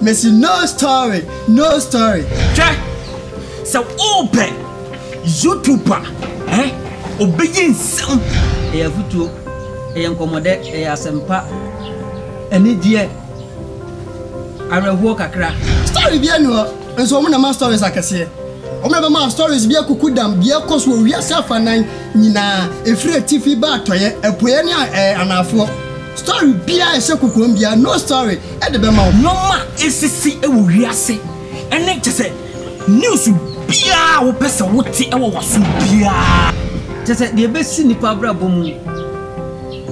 Missy, no story, no story. Hwɛ sɛ wopɛ YouTuber eh? obɛyɛ nsɛm. Ɛyɛ afutuo, ɛyɛ nkɔmmɔdɛ, ɛyɛ asɛmpa, anigyeɛ, awerɛhoɔ kakra. Story bi ɛnu hɔ. Nso wɔn na ɛma stories akɛseɛ. Wɔn na ɛbɛma stories bi akuku dam deɛ ɛkɔ so wɔ wiase afanan nyinaa, ɛfiri atifi ba atɔeɛ, apueɛ ne anaafoɔ. Story biara a ɛhyɛ kokoam biara, No Story de bɛma wo. Nnoɔma a ɛresisi wɔ wiase ne kyɛ sɛ news biara a wopɛ sɛ wote wɔ w'aso biara. Kyɛ sɛ deɛ ɛbɛsi nnipa abrabɔ mu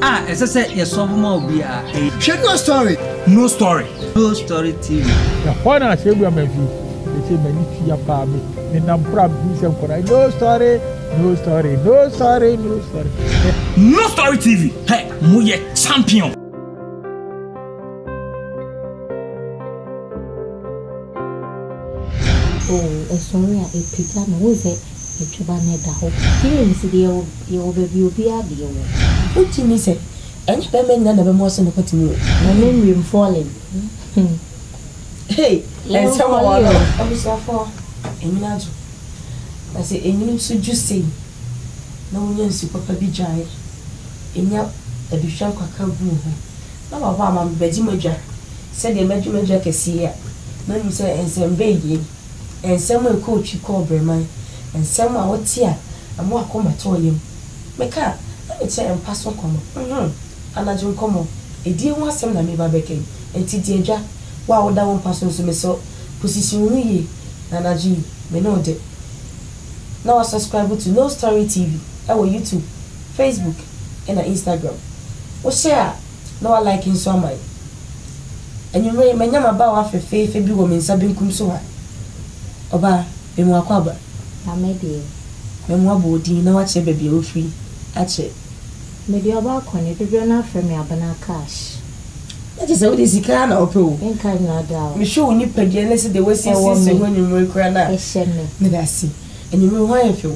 a ɛsɛ sɛ yɛsɔbo ma obiara. Hwɛ No Story. No Story True Story TV. Ɛhɔ na asɛmdua ma fi. Ɛsɛ m'ani tu ya paa me. Me nam kora bi sɛ nkɔda. No story, no story, no story, no story. No Story TV. Hey, mo yɛ champion. Oh, ɛsɔre a ɛpagya no wo sɛ ɛtweba no ɛda hɔ. Feelings deɛ yɛwɔ baabi obiara deɛ wɔ. Wotumi sɛ. Ɛnyɛ bɛɛma nyina na bɛma ɔse nokwa tumi o. Mame nwie m falling hmm hey ɛnsɛm wɔ hɔ no. Abusuafoɔ ɛnwene adwo na sɛ ɛnwene nso dwo sei na wonya nsu papa bi dwae ɛnya aduhwam kakra gu wo ho na wabɔ ama me bɛgye m'adwa sɛdeɛ mɛgye m'adwa kɛseɛ a mahu sɛ ɛnsɛm bɛn yei ɛnsɛm a ɛkɔ otwi kɔ ɔbrɛman ɛnsɛm a wote a ɛma wakoma tɔ yam. Mekaa na mekyerɛɛ mpa so nkɔmmɔ, mm-hmm, anadwo nkɔmmɔ, edie ho asɛm na meba bɛka yi, enti di adwa, wo a woda wo mpa so nso mesrɛ wo position wo ho yie, na anadwo yi me ne wo dɛ. Na wasubscribe to Nostory TV wɔ YouTube, Facebook na Instagram. Wohyɛ a. Na wa like nso ama yɛn. Anwummere yi, manya m'abaawa fefeefe bi wɔ me nsa benkum so ha. Ɔbaa, memu akwaaba. Na me deɛ? Memu aboɔden na wakyerɛ baabi a wafiri akyɛ. Me deɛ ɔbaa kɔ ne, dodoɔ no ara frɛ me Abena Cash. Na kyerɛ sɛ wo deɛ sika ara na wopɛ o. Nka nnwura da o. Mehwɛ wo nipadua ne sɛdeɛ woasiesie se ho anwummere koraa no a, meda ase. Anwummere yi, wo ho ayɛ fɛ o.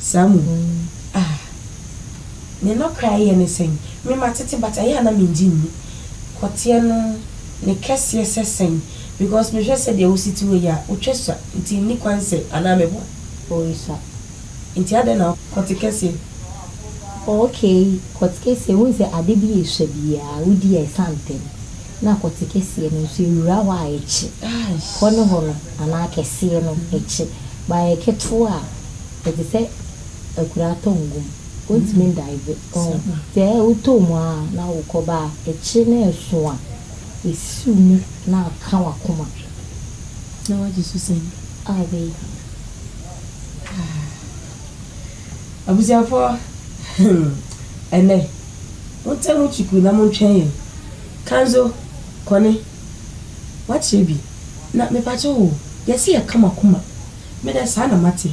Saa mu no, ah, ne nɔkra yɛ ne sɛn? Me matete but ɛyɛ a na mengye nni. Kɔteɛ no, ne kɛseɛ sɛ sɛn? Because mehwɛ sɛdeɛ wosi te hɔ yi a, wotwa sua nti nni kwan sɛ anaa meboa? Oi sa. Nti adɛn na. Kɔte kɛseɛ. Okay, kɔte kɛseɛ, wohu sɛ ade bi a esua biara wodi a ɛsa ntɛm. Na kɔte kɛseɛ no nso ewura hɔ a ɛkye. Hɔ ne hɔ no anaa kɛseɛ no ɛkye, but ɛyɛ ketewa a Ɛte sɛ akuraa atɔ ngu mu, ontumi ndaive, ɔho. Sɛ wotɔ mu ara na wokɔ ba a, akyire no ɛso a, ɛsiw mu na aka w'akoma. Na wagye so sɛn? A wei. Ah. Abusuafoɔ, hmm, ɛnnɛ, montɛ mo kyikuu na montwɛn yɛn. Kanzo, Kɔne, woakyerɛ bi, na mepakyɛw o, yɛse yɛka mo akoma. Me dɛ saa na mate.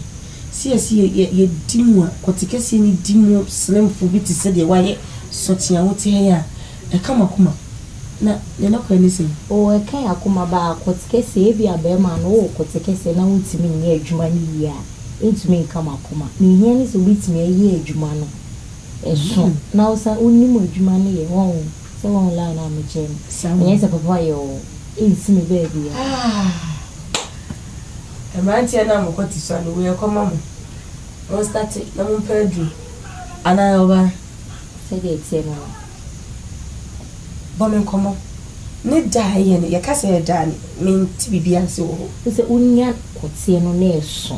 Sees yɛ yɛ yɛ di mu a, kɔte kɛseɛ no di mu sremfo bi te sɛ deɛ wayɛ sɔkye a wote ha yi a, ɛka m'akoma. Na deɛ nɔkorɛ ne sɛ. Oo ɛka yɛn akoma baa, kɔte kɛseɛ, ebia bɛɛma no wowɔ kɔte kɛseɛ na wontumi nyɛ adwuma no yie a, ɛntumi nka m'akoma. Deɛ ɛhia ne sɛ wobɛtumi ayɛ adwuma no, ɛso, na wosan wonim adwuma no yɛ, wɔn. Sɛ wo online a me kyerɛ me. Saa mo. Ɛnyɛ sɛ papa yɛ oo. Ei si me baabiaa. Ah mmranteɛ no a mo kɔ te sua no wei ɛkɔ ma mo. Mo starte na mo mpɛ aduru. Anaa ɔbaa. Sɛdeɛ ɛteɛ no no. Bɔ me nkɔmɔ. Ne da a ɛyɛ no yɛka sɛ ɛda a me nte biribiaa nse wɔ hɔ. Wosɛ wo nya kɔteɛ no na ɛso.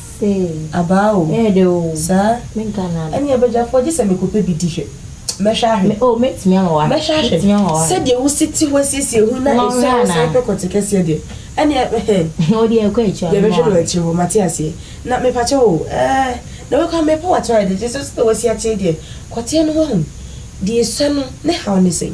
Ee. Abaa o. Ɛyɛ dɛ o. Saa. Menka no ara da. Ɛnneɛ Badwafoɔ gye sɛ mekɔpɛ bi di hwɛ. Mɛhwɛ ahwɛ. Me, oh, mɛtumi ama woahwɛ. Mɛhwɛ ahwɛ. Mɛtumi ama woahwɛ. Sɛdeɛ wosi te hɔ asiesie ho na Wɔnhwɛ ɛsɛ a wosan anaa? kɔ kɔte kɛseɛ deɛ, ɛnneɛ ɛhɛn. Wo deɛ ɛkɔ akyiri a, Yɛbɛhwɛ no wɔ mmoa. akyire hɔ, mate aseɛ. Na mepakyɛw o, ɛɛ, na wei koraa mepɛ w'ato ayɛ dɛ, gye sɛ sɛdeɛ woasi atee deɛ, kɔteɛ no wahu. Deɛ ɛsua no ne haw ne sɛn?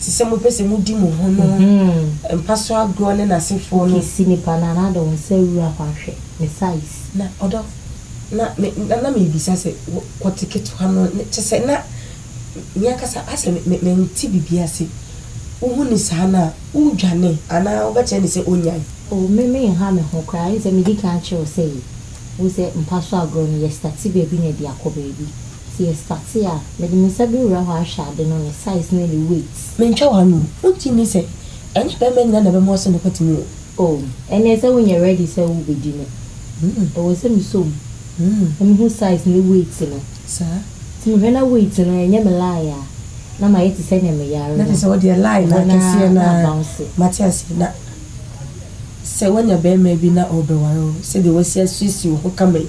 te sɛ mopɛ sɛ modi mo ho no mpa so agorɔ ne n'asefoɔ no. Kisi nipa no anaa de wo nsa wura hɔ ahwɛ ne size. Na ɔdɔ na me na na mebisa sɛ kɔte ketewa no ne kyɛ sɛ na me ankasa asɛ me mente biribi ase wohu ne saa no a wodwane anaa wobɛkyerɛ ne sɛ ɔnyae. Oh me me nha me ho koraa ɛnsɛ medi kan kyerɛ wo sɛ yɛ wohu sɛ mpa so agorɔ no yɛ starte baabi na ɛde akɔ baabi. Sɛ yɛ starte a, mede me nsa bɛwura hɔ ahwɛ ade no, ne size ne ne weight. Mentwa w'ano o, wonte nni sɛ. Ɛnyɛ bɛɛma nyina na bɛma ɔse nokwa tumi o. Oh, ɛneɛ sɛ wonyɛ ready sɛ wo bɛdi no, ɛwɔ sɛ me sɔ mu na me hu size ne weight no. Saa. Sɛ me hwɛ na weight no ɛnyɛ me lie a, na mayɛ te sɛnea me yare no. Na kyerɛ sɛ wodeɛ lie no akɛseɛ no ara. Mate aseɛ, na sɛ wanya bɛɛma bi na ɔɔbɛware wo, sɛdeɛ wasi asiesie wo ho kama yi.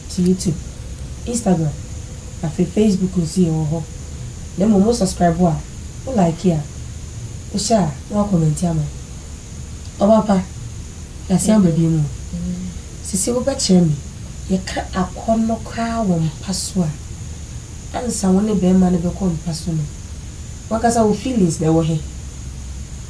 So YouTube, Instagram, afei Facebook nso yɛ wɔ hɔ. Na mmom wo subscribe a, wo like a, wo share a na wa comment ama me. Ɔba pa, yɛasen aba bio mu o. Sisi wo bɛkyerɛ me yɛka akɔnnɔ koraa wɔ mpa so a, ansa wo ne bɛɛma no bɛkɔ mpa so no, wankasa wo feelings na ɛwɔ he?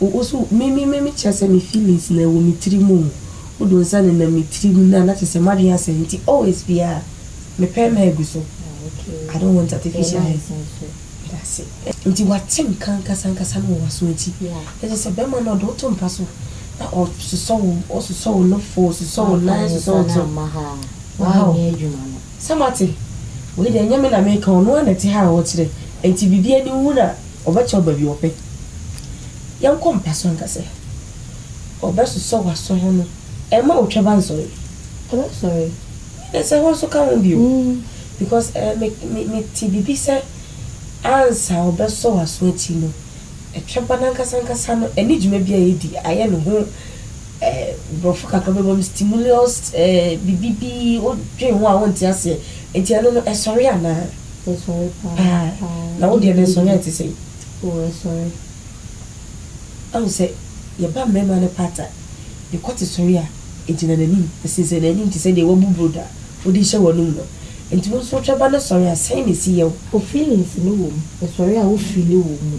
Wo so me me me me kyerɛ sɛ me feelings na ɛwɔ me tiri mu o wo de wo nsa nenam me tiri mu na na kyerɛ sɛ m'adwene asɛe nti always biara me pɛɛma agu so I don't want artificial hair meda ase nti wate nka ankasa ankasa no wɔ w'aso nti na kyerɛ sɛ bɛrima no ɔde wo to mpa so na ɔsosɔ wo ɔsosɔ wo nofo ɔsosɔ wo nan ɔsosɔ wo to ma ha o. Sɛ moate? Wei deɛ ɛnyɛ me na meka, ɔno ara na ɛte ha a ɔrekyerɛ, enti biribi ani nwu no a, ɔbɛkyerɛw baabi ɔpɛ. Yɛnkɔ mpa so nka sɛ, Ɔbɛsosɔ w'aso ho no, ɛmma otwaba nsɔre. Ɔbɛsɔre. Ɛnde sɛ hɔ nso ka ho bio, because ɛɛ, me, me, mete biribi sɛ ansa ɔbɛsɔ w'aso akyi no, twaba no ankasa ankasa no, ɛne dwuma bi a edi, ayɛ ne ho. Eh, Brɔfo kakra bɛbɔ no stimulus eh, biribi bi, wodwen ho a wonte aseɛ. Nti ɛno no, ɛsɔre anaa? Ɛsɔre paa. Paa. Paa. Na wo deɛ no ɛsɔre a ɛte sɛn? Oh, ɛsɔre. Ahu sɛ, yɛba mmarima no part a, ne kɔte sɔre a, ɛgyina n'anim, ɛsensɛn n'anim te sɛ deɛ wɔabu brodo a wode rehyɛ w'anom no. Nti wo nso wotwa ba no sɔre a, sɛn na ɛsi yɛ wo? Oh, feelings no wɔ mu. Ɛsɔre a wo feeli wo mu.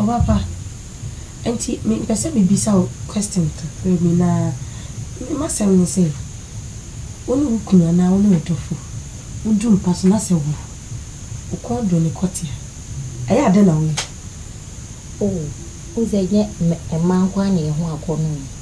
Ɔbapa, nti me mpɛ sɛ me bisa wo question kakra bi na me m'asɛm ne sɛ, wo ne wo kunu anaa wo ne wo dɔfo wo du mpa so na sɛ wo wo kɔn dɔ ne kɔte a, ɛyɛ a dɛn na wo yɛ? Oh, wo dze ɛnyɛ mma nkoaa na yɛho akɔ no o.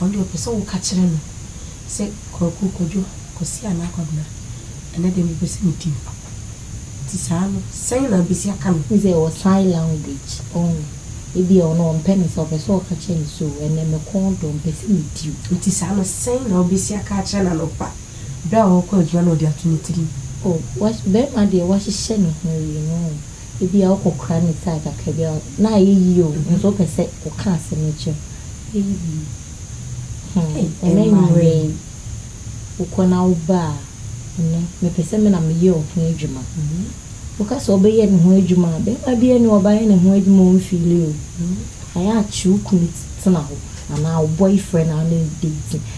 Ɔno deɛ ɔpɛ sɛ woka kyerɛ no sɛ Kwaku, Kwadwo, Kwasi anaa Kwabena, ɛnnɛ deɛ mepɛ sɛ medi wo. Nti saa no, sɛn na wobɛsi aka no? Wohu sɛ ɛwɔ sign language, ɔho. Ebia ɔno ɔmpɛ no saa, ɔpɛ sɛ ɔka kyerɛ no sɛ, o, ɛnnɛ me kɔn dɔ, mepɛ sɛ medi wo. Nti saa no, sɛn na wobɛsi aka akyerɛ no anɔpa berɛ a ɔrekɔ adwuma na ɔde ato ne tirim? O, wahye, barima deɛ wahyehyɛ ne ho awie, no. Ebia wokɔkora ne tag kakra bi a, na ayɛ yie o, nanso wopɛ sɛ woka asɛm no kyerɛ no. Bɛyɛ bio. Hmm, ɛnɛ anwummerɛ yi, wokɔ na woba a, ɛnɛ mepɛ sɛ me na meyɛ wo ho adwuma. Woka sɛ wobɛyɛ ne ho adwuma a, barima biara nni hɔ a ɔbɛayɛ ne ho adwuma a ɔmfiili o. Ayɛ a kye wo kunu ti tena hɔ anaa wo boyfriend a wone no date no,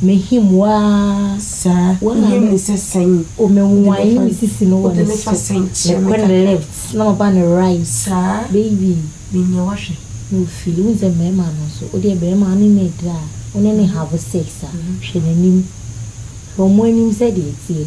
M'ahim waa saa. Wɔn a me nsa sɛn yi. O me nwae ne me sisi no wɔ ne so. Wode me fa sɛn kyerɛ me kakra. Mekɔ ne left na maba ne right. Saa. Baby. Menyɛ wahwɛ. Na ofii. Wohu sɛ mmarima no nso. Wo deɛ barima wo ne no redi a, wo ne no have sex a, hwɛ n'anim. Hwɛ wɔn anim sɛdeɛ ɛteɛ.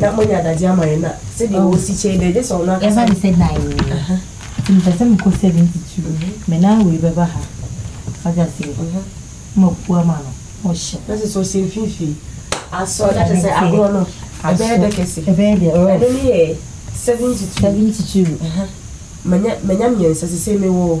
na monya adagye ama yɛn a sɛdeɛ oh. wɔsi kyɛn dɛ gye sɛ ɔno akasa ne sɛ dan nti mepɛ sɛ mekɔ 72 mhm. me nan wei bɛba ha wagye aseɛ mhm. mapu ama no ɔhyɛ na sɛ sɛ ɔhyɛ mfimfini asɔ na kyɛ sɛ agorɔ no ɛbɛyɛ dɛ kɛse ɛbɛyɛ dɛ oh. ɛno ne yɛ 72 72 manya mmiɛnsa sɛ sɛ mewɔ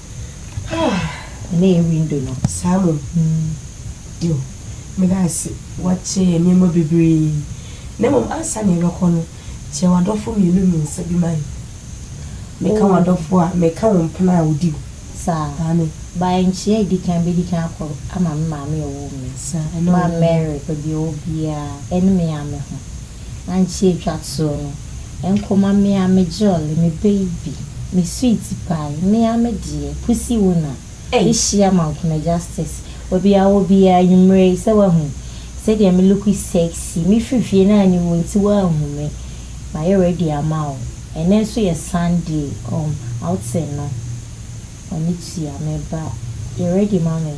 Ah ɛnɛ yɛ window no. Saa mmom hmm dew. Meda ase woakyɛ yɛn nneɛma bebree. Na mmom ansa na yɛbɛkɔ no, kyerɛ w'adɔfo mmienu mmiɛnsa bi ma yɛn. Meka w'adɔfo a, meka wo mpena a wodi hɔ. Saa. Aane. By nkyia a edi kan bedi kan akɔ ama me maame a ɔwoo me. Saa, ɛno. Ba Mary, baabi a ɔwɔ biara, ɛne me ara me ho. Ankyɛ etwa to no, nkoma me a me jolly, me baby, me sweet pie, me a me deɛ, pussy wona, behyia Mankona Justice wɔ bia wɔ bia anwumerɛ yi sɛ wahu sɛdeɛ me look sexy, me firi fie na anni mu nti woanhu me, mayɛ ready ama wo, ɛnɛ nso yɛ Sunday um outing no, w'ani tua, meba, yɛ ready ma me.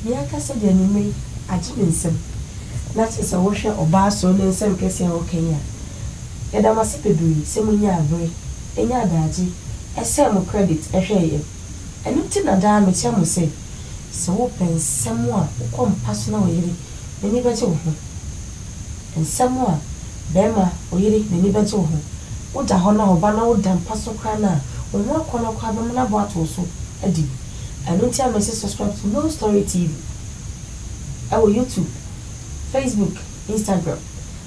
Me ankasa de anwummere yi agye me nsam, na te sɛ wohwɛ ɔbaa soro ne nsɛm kɛse a ɔka yi a. Yɛda mo ase bebree sɛ munyaa bere, nyaa adagye, ɛsɛɛ mo credit hwɛɛ yɛn. Ɛno nti na daa mekyerɛ mo sɛ, sɛ wopɛ nsɛm a wokɔ mpa so na wo yere n'ani bɛgye wo ho, nsɛm a barima, ɔyere, n'ani bɛgye wo ho, woda hɔ na ɔba na woda mpa so koraa no a, wo ho akɔnnɔ koraa bɛma no abɔ ato wo so adi. Ɛno nti a mese subscribe to No Story TV ɛwɔ YouTube, Facebook, Instagram.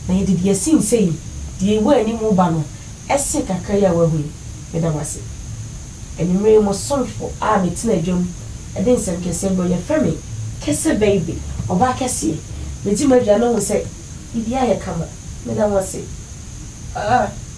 Na yɛde deɛ ɛsi nse yi, deɛ ɛwɔ anim reba no ɛsen kakra yi a woahu yi. Meda mo ase. Anwummerɛ yi mo somfo a metena dwam de nsɛm kɛseɛ brɛ wo. Yɛfrɛ me Kese Baby, ɔbaa kɛseɛ. Medi m'aduane hu sɛ biribiara yɛ kama. Meda mo ase. Aah.